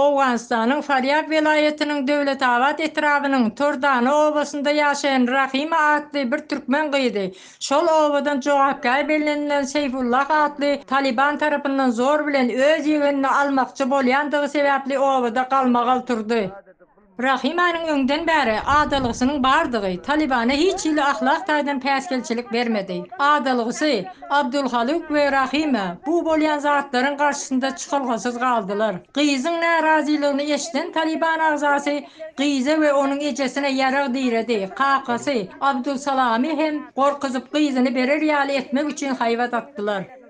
Owganystanyň Farýab welaýatynyň Döwletabat etrabynyň Tordana obasynda ýaşaýan Rahima atly bir türkmen gyzy şol obadan jogapkär bellenilen Seýfullah atly Talyban tarapyndan zor bilen öz ýegenini almakçy bolýandygy sebäpli obada galmagal turdy. Rahimanyň öňden bäri adalgysynyň bardygy Talybana hiç hili ahlak taýdan päsgelçilik bermedi. Adalgysy, Abdulhaluk we Rahima bu bolýan zatlaryň garşysynda çykalgasyz galdylar. Gyzyň närazylygyny eşiden Talyban agzasy gyza we onuň ejesine ýarag diredi, kakasy Abdulsalamy hem gorkuzyp gyzyny berer ýaly etmek üçin haýbat atdylar.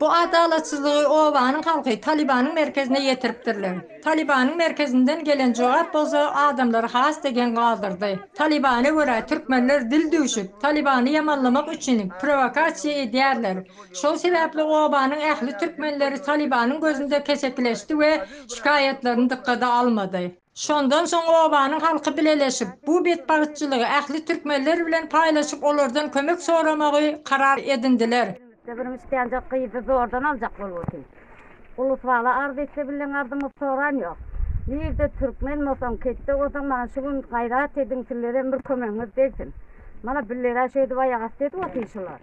Bu adalatsyzlygy obanyň halky Talybanyň merkezine ýetiripdirler. Talybanyň merkezinden gelen jogap bolsa adamlary has-da geň galdyrdy. Talybana görä türkmenler dil düwşüp, Talybany ýamanlamak üçin prowokasiýa edýärler. Şol sebäpli obanyň ähli türkmenleri Talybanyň gözünde kesekileşdi we şikaýatlaryny dykgada almady. Şondan soň obanyň halky bileleşip, bu betbagtçylygy ähli türkmenler bilen paýlaşyp olardan kömek soramagy karar edindiler. Birimiz islenjek gyzy zordan aljak bolupdy. Ulus-bala arz etse bilen arzymyz soran yok. Nirde türkmen bolsaň, ketde bolsaň maňa şu gün gayrat ediň sizlerem bir kömegiňiz degsin. Mana billerä şöydüp aýak asty edip otyr şular.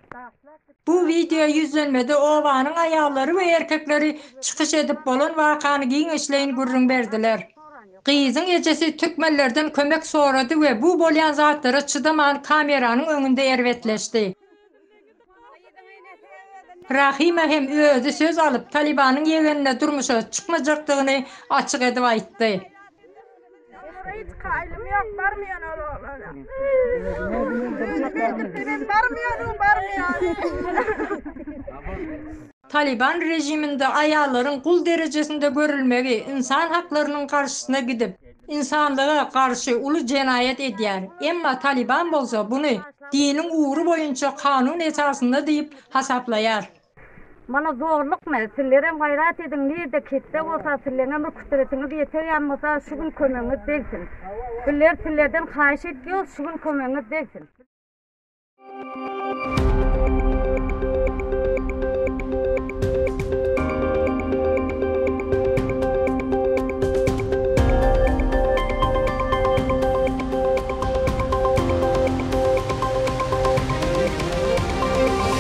Bu wideo ýüzlenmede obanyň aýallary we erkekleri çykyş edip bolan wakany giňişleýin gürrüň berdiler. Gyzyň ejesi türkmenlerden kömek sorady we bu bolýan zatlara çydaman kameranyň öňünde erbetleşdi. Rahima hem özi söz alyp Talibanyň ýegenine durmuşa çykmajakdygyny açyk edip aýtdy. Talyban režiminde aýallaryň gul derejesinde görülmegi ynsan haklarynyň garşysyna gidip, ynsanlyga garşy uly jenaýat edýär. Emma Talyban bolsa buny diniň ugry boýunça kanun esasynda diýip hasaplaýar. Mana zorlukmy? Sizlerem gaýrat ediň, nirde kisse bolsa, sizleňem bir kütüretiňiz ýeter ýan bolsa, şu gün kömegiňiz degsin. Bizler sizlerden haýyş etýos, şu gün kömegiňiz degsin.